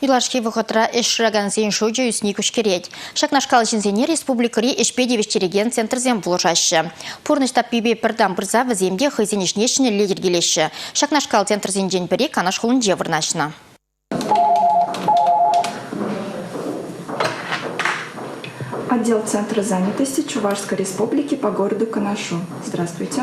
Юлашки вӑхӑтра ӗҫ шыракансен шучӗ ӳсни куҫкӗрет. Ҫакнашкал ҫынсене республикӑри ӗҫпе тивӗҫтерекен центрсем пулӑшаҫҫӗ. Пурнӑҫ таппипе пӗр тан пырса вӗсем те хӑйсен ӗҫне ҫӗнӗлле йӗркелеҫҫӗ. Ҫакнашкал центрсенчен пӗри Канаш хулинче вырнаҫнӑ. Отдел Центра занятости Чувашской республики по городу Канашу. Здравствуйте.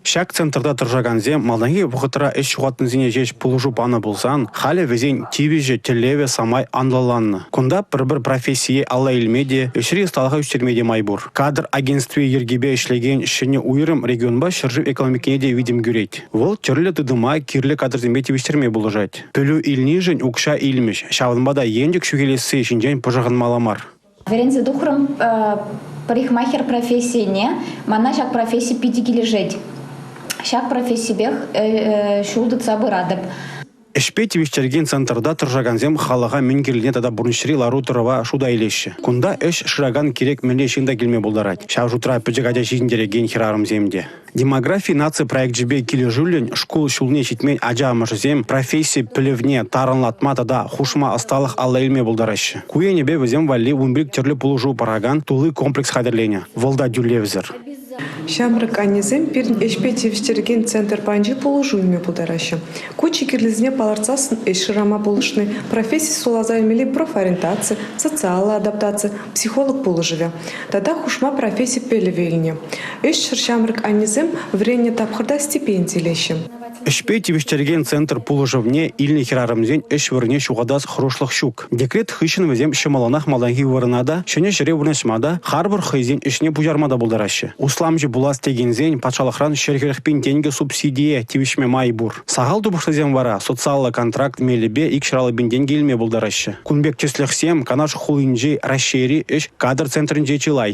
Ҫак центрта тӑрӑшакансем малтанхи вӑхӑтра ӗҫ ҫухатнисене ҫеҫ пулӑшу панӑ пулсан, халӗ вӗсен тивӗҫӗ, тӗллевӗ самай анлӑланнӑ. Кунта пӗр-пӗр профессие алла илме те, ӗҫри ӑсталӑха ӳстерме те май пур. Кадр агентстви йӗркипе ӗҫлекен ҫӗнӗ уйрӑм регионпа ҫӗршыв экономикине те витӗм кӳрет. Вӑл тӗрлӗ тытӑма кирлӗ кадрсемпе тивӗҫтерме пулӑшать. Пӗлӳ илнишӗн укҫа илмӗҫ, ҫавӑнпа та енчӗк ҫӳхелесси ҫинчен пӑшӑрханмалла мар. Вӗренсе тухрӑм парикмахер профессине. Мана ҫак професси питӗ килӗшет. Ҫак профессипех ҫул тытса пыратӑп. Ӗҫпе тивӗҫтерекен центрта тӑрӑшакансем халӑха мӗн кирлине тата пурнӑҫри лару-тӑрӑва шута илеҫҫӗ. Кунта ӗҫ шыракан кирек мӗнле ҫын та килме пултарать. Ҫав шутра пӗчӗк ача ҫитӗнтерекен хӗрарӑмсем те. Демографи наци проекчӗпе килӗшӳллӗн шкул ҫулне ҫитмен ача амӑшӗсем професси пӗлӗвне тарӑнлатма тата хушма ӑсталӑх алла илме пултараҫҫӗ. Ку енӗпе вӗсем валли ун пек тӗрлӗ пулӑшу паракан тулли комплекс хатӗрленӗ. Вӑл та тӳлевсӗр. Ҫамрӑк аннесем пирӗн ӗҫпе тивӗҫтерекен центр патӗнче пулӑшу илме пултараҫҫӗ. Ку чи кирлисене палӑртсассӑн ӗҫ шырама пулӑшни, професси суйласа илмелли профориентаци, социаллӑ адаптаци, психолог пулӑшӑвӗ. тата хушма професси пӗлӗвӗ илнӗ. Ӗҫсӗр ҫамрӑк аннесем вӗреннӗ тапхӑрта стипенди илеҫҫӗ. Ӗҫпе тивӗҫтерекен центр пулӑшӑвне илнӗ хӗрарӑмсен ӗҫ вырӑнне ҫухатас хӑрушлӑх ҫук. Декрет хыҫҫӑн вӗсем ҫӑмӑллӑнах малтанхи вырӑна та, ҫӗнӗ ҫӗре вырнаҫма та, харпӑр хӑйсен ӗҫне пуҫарма та пултараҫҫӗ. Усламҫӑ пулас текенсен патшалӑхран ҫӗр хӗрӗхпин тенкӗ субсидие тивӗҫме май пур. Сахал тупӑшлисем вара социаллӑ контракт мелӗпе икҫӑраллӑ пин тенкӗ илме пултараҫҫӗ. Кун пек тӗслӗхсем Канаш хулинчи Раҫҫейри ӗҫ кадр центрӗнче чылай.